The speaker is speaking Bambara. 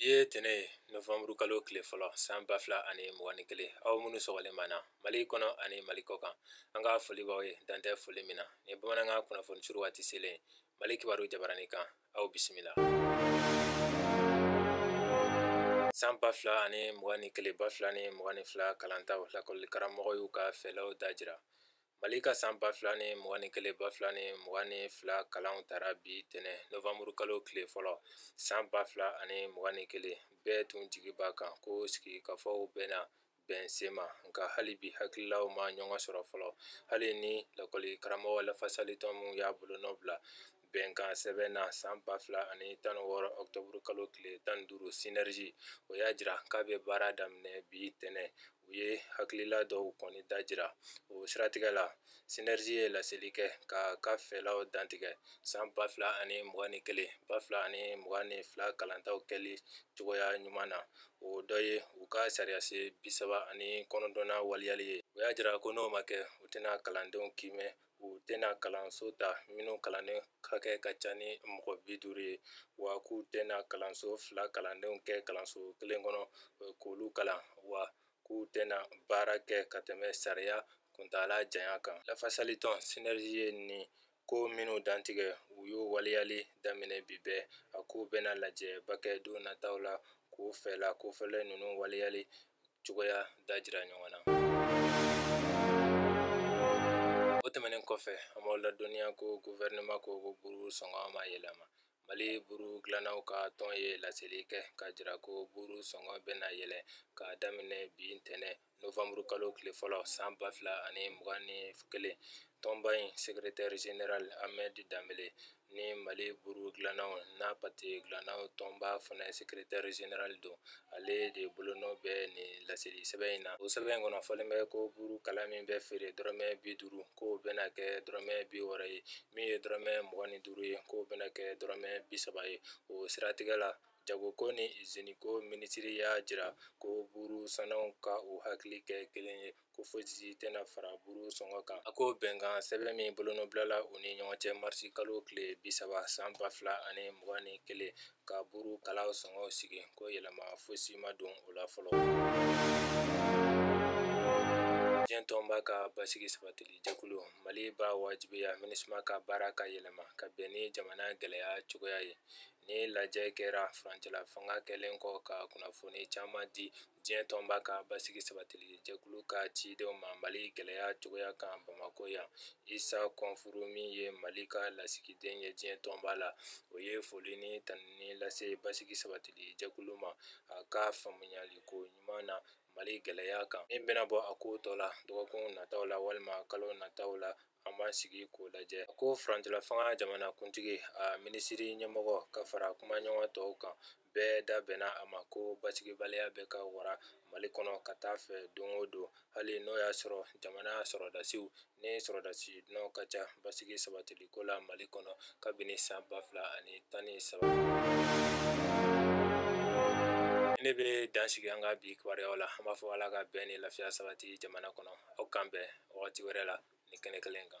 ye tɛnɛ ye nowanburu kalo tile fɔlɔ san ba fila ani mugan ni kelen aw minnu sɔgɔlen b'an na mali kɔnɔ ani mali kɔ kan an ka foli b'aw ye dan tɛ foli min na nin bamanankan kunnafoni suru waati selen mali kibaru jabarani kan aw bisimila san ba fila ani mugan ni kelen ba fila ni mugan ni fila kalantaw lakɔli karamɔgɔw y'u ka fɛlaw da jira Mali ka san ba fila ni mugan ni kelen ba fila ni mugan ni fila kalanw tara bi tɛnɛn nowanburu kalo tile fɔlɔ san ba fila ani mugan ni kelen bɛɛ tun jigi b'a kan ko sigikafɔw bɛna bɛn sema nka hali bi hakililaw ma ɲɔgɔn sɔrɔ fɔlɔ hali ni lakɔli karamɔgɔ lafasalitɔn minnu y'a bolo nɔ bila bɛnkan sɛbɛn na san ba fila ani tan wɔɔrɔ ɔkutɔburu kalo tile tan ni duuru sinɛrizi o y'a jira k'a bɛ baara daminɛ bi tɛnɛn u ye hakilila dɔw kɔni da jira o siratigɛ la sinɛrizi ye laseli kɛ k'a ka fɛlaw dantigɛ san ba fila ani mugan ni kelen ba fila ani mugan ni fila kalantaw kɛli cogoya ɲuman na o dɔ ye u ka sariyasen bi saba ani kɔnɔntɔnnan waleyali ye u y'a jira ko n'o ma kɛ u tɛna kalandenw kiimɛ u tɛna kalanso ta minnu kalanden hakɛ ka ca ni mɔgɔ bi duuru ye wa k'u tɛna kalanso fila kalandenw kɛ kalanso kelen kɔnɔ k'olu kalan wa k'u tɛna baara kɛ ka tɛmɛ sariya kuntaala janya kan lafasali tɔn sinɛrizi ye nin ko minnu dantigɛ u y'o waleyali daminɛ bi bɛɛ a k'u bɛna lajɛba kɛ don nataw la k'u fɛla kofɔlen ninnu waleyali cogoya da jira ɲɔgɔn na o tɛmɛnen kɔfɛ an b'aw ladɔnniya ko guvɛrɛnɛma ko buru sɔngɔ ma yɛlɛma mali buru dilannaw ka tɔn ye laseli kɛ k'a jira ko buru sɔngɔ bɛna yɛlɛ k'a daminɛ bi ntɛnɛ nowanburu kalo tile fɔlɔ san ba fila ani mugan ni kelen tɔnba in sekretɛri zenerali amɛdi danbele ni mali buru dilannaw n'a pate dilannaw tɔnba fana sekretɛri zenerali don ale de bolonɔ bɛ nin laseli sɛbɛn in na o sɛbɛn in kɔnɔ fɔlen bɛ ko burukala min bɛ feere dɔrɔmɛ bi duuru k'o bɛna kɛ dɔrɔmɛ bi wɔɔrɔ ye min ye dɔrɔmɛ mugan ni duuru ye k'o bɛna kɛ dɔrɔmɛ bi saba ye o siratigɛ la jagoko ni iziniko minisiri y'a jira ko buru sannaw ka u hakili kɛ kelen ye ko fosi tɛna fara buru sɔngɔ kan a ko bɛnkan sɛbɛn min bolonɔbilala u ni ɲɔgɔn cɛ marisi kalo tile bi saba san ba fila ani mugan ni kelen ka buru kalaw sɔngɔw sigi ko yɛlɛma fosi ma don o la fɔlɔ diɲɛ tɔnba ka basigi sabatili jɛkulu mali b'a wajibiya minusma ka baara ka yɛlɛma ka bɛn ni jamana gɛlɛya cogoya ye nin lajɛ kɛra furancɛla fanga kɛlen kɔ ka kunnafoni caman di diɲɛ tɔnba ka basigi sabatili jɛkulu ka cidenw ma mali gɛlɛya cogoya kan bamakɔ yan isa kɔnfuru min ye mali ka lasigiden ye diɲɛ tɔnba la o ye foli ni tanuni lase basigi sabatili jɛkulu ma a ka faamuyali ko ɲuman na mali gɛlɛya kan min bɛna bɔ a ko tɔ la dɔgɔkun nataw la walima kalo nataw la an b'an sigi k'o lajɛ a ko furancɛla fanga jamanakuntigi a minisiriri ɲɛmɔgɔ ka fara kumaɲɔgɔn tɔw kan bɛɛ da bɛnna a ma ko basigibaliya bɛ ka wara mali kɔnɔ ka taa fɛ don o don hali n'o y'a sɔrɔ jamana sɔrɔdasiw ni sɔrɔdasi dunanw ka ca basigi sabatili ko la mali kɔnɔ kabini san ba fila ani tan ni saba ne bɛ dansigi an ka bi kibaruyaw la an b'a fɔ ala ka bɛn ni lafiya sabati jamana kɔnɔ aw k'an bɛn wagati wɛrɛ la nin kɛnɛ kelen kan